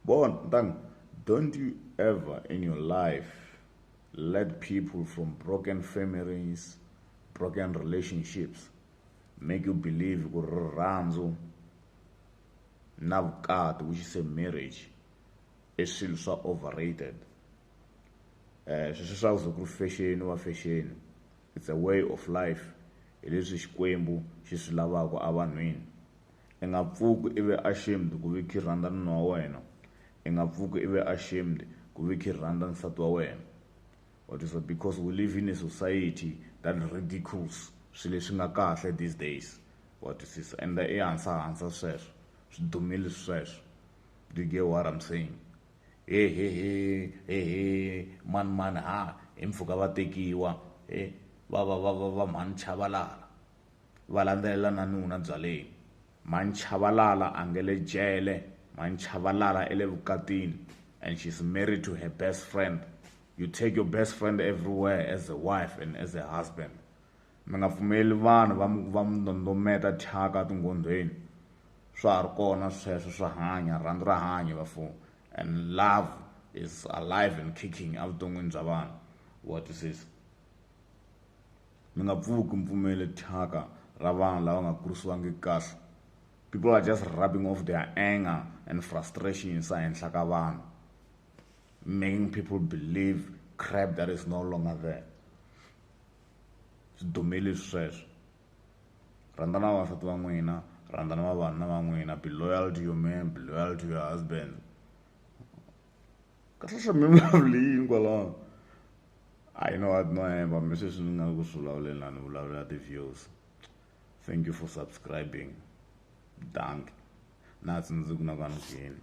Bon, ntan, don't you ever in your life let people from broken families, broken relationships make you believe ku rirhandzu na vukati which is a marriage i swilo swa overrated um sweswi swa ku ku ri fexeni wa fexeni it's a way of life hi leswi xikwembu xi swi lavaka evanhwini I nga pfuki i ve ashamed ku ve ki rhandza nuna wa wena. I nga pfuki i ve ashamed ku ve ki rhandza nsati wa wena. Wa twisisa because we live in a society that ridicules swi leswi nga kahle these days wa twisisa and i hansa hansa sweswo swi dumile sweswo do you get what am saying hehehe mani mani ha hi mpfhuka va tekiwa he va va va va va mhani chavalala. Va landzelela na nuna byaleni. Manchavalala a nge le jele. Manchavalala i le vukatini and she's married to her best friend. You take your best friend everywhere as a wife and as a husband. Mi nga pfumeli vanhu va mi va mi ndondometa thyaka tinghondhweni. Swa ha ri kona sweswo swa hanya, rhandzu ra hanya bafo and love is alive and kicking evuton'wini bya vanhu. Wa twisisa? Mi nga pfuki mi pfumele thyaka ra vanhu lava nga kurisiwangiki kahle. People are just rubbing off their anger and frustrations ehenhla ka vanhu, making people believe crap that is no longer there. Swi dumile leswi sweswo. Rhandzana vavasati va n'wina, rhandzana vavanuna va n'wina, be loyal to your man, be loyal to your husband. ka hlahla mi vulavule yini kwalaho a yi no wa no hemba mi sweswi ni nga ku swi vulavuleni laha ni vulavulela ti-views thank you for subscribing dank na tsundzuku na ka ni kwini